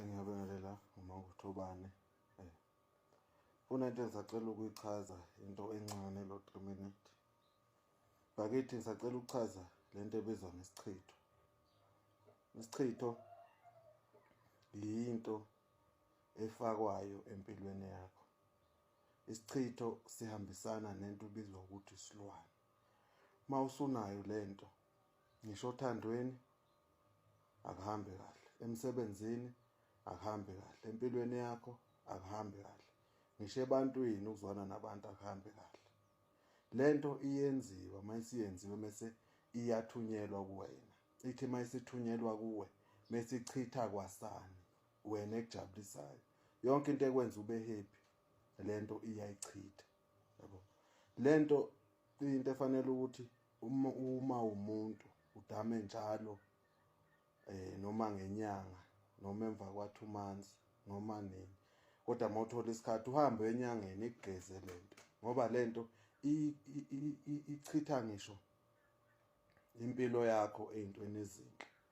Ngiyabingelela uma kuthobane eh kunento engisacela ukuyichaza into encane lo 3 minute bakithi ngisacela ukuchaza lento ebizwa ngesichitho isichitho yinto efakwayo empilweni yakho isichitho sihambisana nento ubizwa ukuthi isilwane mawusunayo lento ngisho othandweni akuhambe kahle emsebenzini akuhambe kahle empilweni yakho akuhambe kahle ngisho ebantwini ukuzwana nabantu akuhambe kahle lento iyenziwa mayisiyenziwe mase iyathunyelwa kuwena ithi mayisithunyelwa kuwe mesichitha kwasani wena ekujabulisayo yonke into ekwenza ube happy lento iyayichitha yabo lento into efanele ukuthi uma uma umuntu udame njalo eh noma ngenyanga noma emva kwa 2 months noma nini kodwa mawuthola isikhathi uhambe enyangeni igeze lento ngoba lento ichitha ngisho impilo yakho ezintweni ezinhle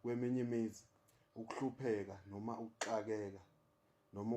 Kweminye imizi, ukuhlupheka noma ukuxakeka noma